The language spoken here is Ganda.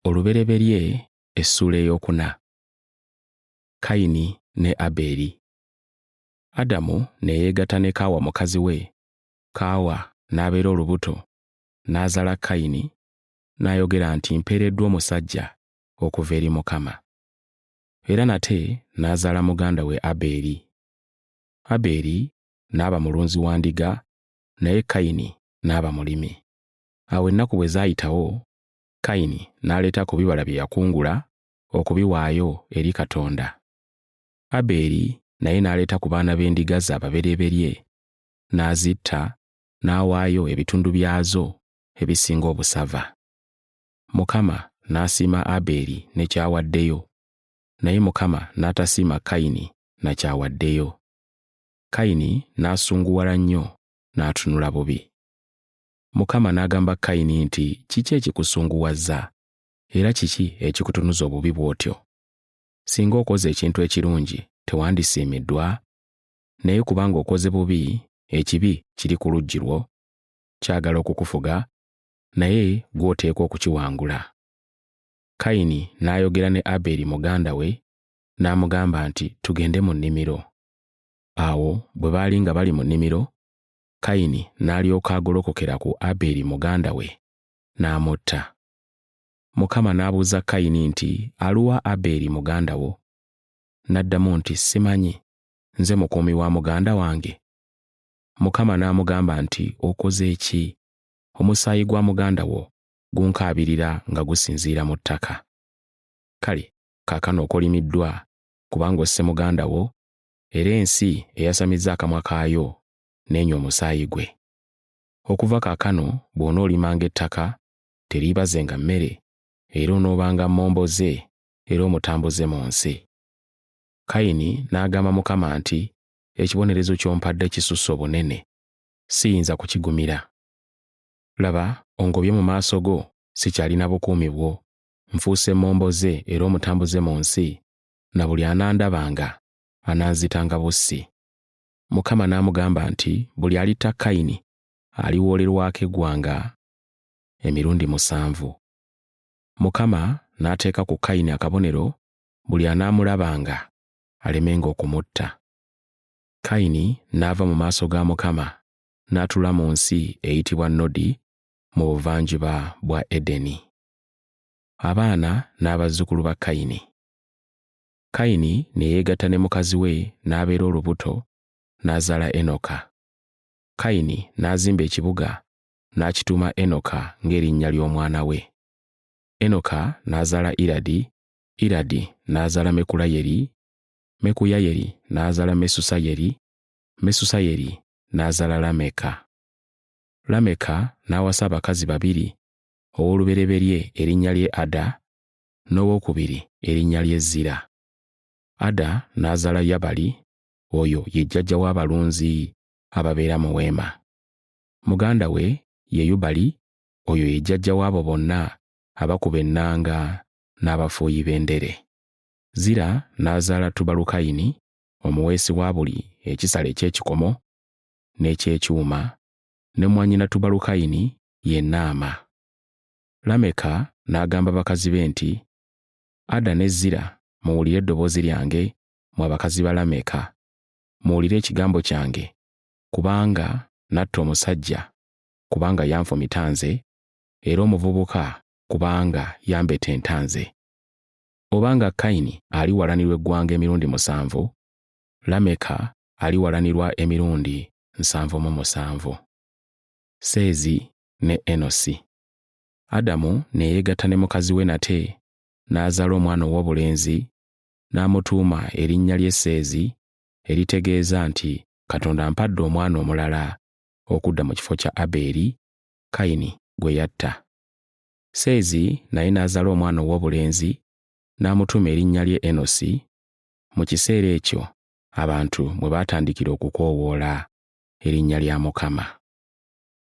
olubereberye essuula ey'okuna kayini ne abeeri adamu ne yeegatta ne kaawa mukazi we kaawa n'abeera olubuto n'azala kayini n'ayogera nti mpeereddwa omusajja okuva eri mukama era nate n'azaala muganda we abeeri abeeri n'aba mulunzi wa ndiga naye kayini n'aba mulimi Awo ennaku bwe zaayitawo, Kayini n'aleeta ku bibala bye yakungula okubiwaayo eri Katonda. Abeeri naye n'aleeta ku baana b'endiga ze ababereberye, n'azitta, n'awaayo ebitundu byazo ebisinga obusava. Mukama n'asiima Abeeri ne ky'awaddeyo, naye Mukama n'atasiima Kayini na ky'awaddeyo. Kayini n'asunguwala nnyo n'atunula bubi. Mukama n'agamba Kayini nti, Kiki ekikusunguwazza? Era kiki ekikutunuza obubi bw'otyo? Singa okoze ekintu ekirungi, tewandisiimiddwa? Naye kubanga okoze bubi, ekibi kiri ku luggi lwo, kyagala okukufuga, naye gwe oteekwa okukiwangula. Kayini n'ayogera ne Aberi muganda we, n'amugamba nti, Tugende mu nnimiro. Awo bwe baali nga bali mu nnimiro, Kayini n'alyoka agolokokera ku Aberi muganda we, n'amutta. Mukama n'abuuza Kayini nti, Aluwa Aberi muganda wo? N'addamu nti, Simanyi, nze mukuumi wa muganda wange. Mukama n'amugamba nti, Okoze ki? Omusaayi gwa muganda wo gunkaabirira nga gusinziira mu ttaka. Kale kaakano okolimiddwa, kubanga osse muganda wo, era ensi eyasamizza akamwa kaayo n'enywa omusaayi gwe. Okuva kaakano bw'onoolimanga ettaka, teriibazenga mmere, era onoobanga mmomboze era omutambuze mu nsi. Kayini n'agamba Mukama nti, Ekibonerezo ky'ompadde kisusse obunene, siyinza kukigumira. Laba, ongobye mu maaso go, sikyalina bukuumi bwo, nfuuse mmomboze era omutambuze mu nsi, na buli anandabanga ananzitanga bussi. Mukama n'amugamba nti buli alitta Kayini aliwoolerwako eggwanga emirundi musanvu. Mukama n'ateeka ku Kayini akabonero buli anaamulabanga alemenga okumutta. Kayini n'ava mu maaso ga Mukama n'atula mu nsi eyitibwa Nodi mu buvanjuba bwa Edeni. Abaana n'abazzukulu ba Kayini. Kayini ne yeegatta ne mukazi we n'abeera olubuto, n'azaala Enoka. Kayini n'azimba ekibuga n'akituuma Enoka ng'erinnya ly'omwana we. Enoka n'azaala Iradi, Iradi n'azaala Mekulayeri, Mekuyayeri n'azaala Mesusayeri, Mesusayeri n'azaala Lameka. Lameka n'awasa abakazi babiri, ow'olubereberye erinnya lye Ada, n'owokubiri erinnya lye Zira. Ada n'azaala Yabali, oyo ye jjajja w'abalunzi ababeera mu weema. Muganda we ye Yubali, oyo ye jjajja w'abo bonna abakuba ennanga n'abafuuyi b'endere. Zira n'azaala Tubalukayini, omuweesi wa buli ekisala eky'ekikomo n'eky'ekyuma, ne mwannyina Tubalukayini ye Naama. Lameka n'agamba bakazi be nti, Ada ne Zira, muwulire eddoboozi lyange, mwe abakazi ba Lameka. Muwulire ekigambo kyange, kubanga natta omusajja, kubanga yanfumita nze, era omuvubuka, kubanga yambetenta nze. Obanga Kayini aliwalanirwa eggwanga emirundi musanvu, Lameka aliwalanirwa emirundi nsanvu mu musanvu. Seezi ne Enosi. Adamu ne yeegatta ne mukazi we nate n'azaala omwana ow'obulenzi n'amutuuma erinnya lye Seezi eritegeeza nti Katonda ampadde omwana omulala okudda mu kifo kya Abeeri, Kayini gwe yatta. Seezi naye n'azaala omwana ow'obulenzi n'amutuuma erinnya lye Enosi, mu kiseera ekyo abantu mwe baatandikira okukoowoola erinnya lya Mukama.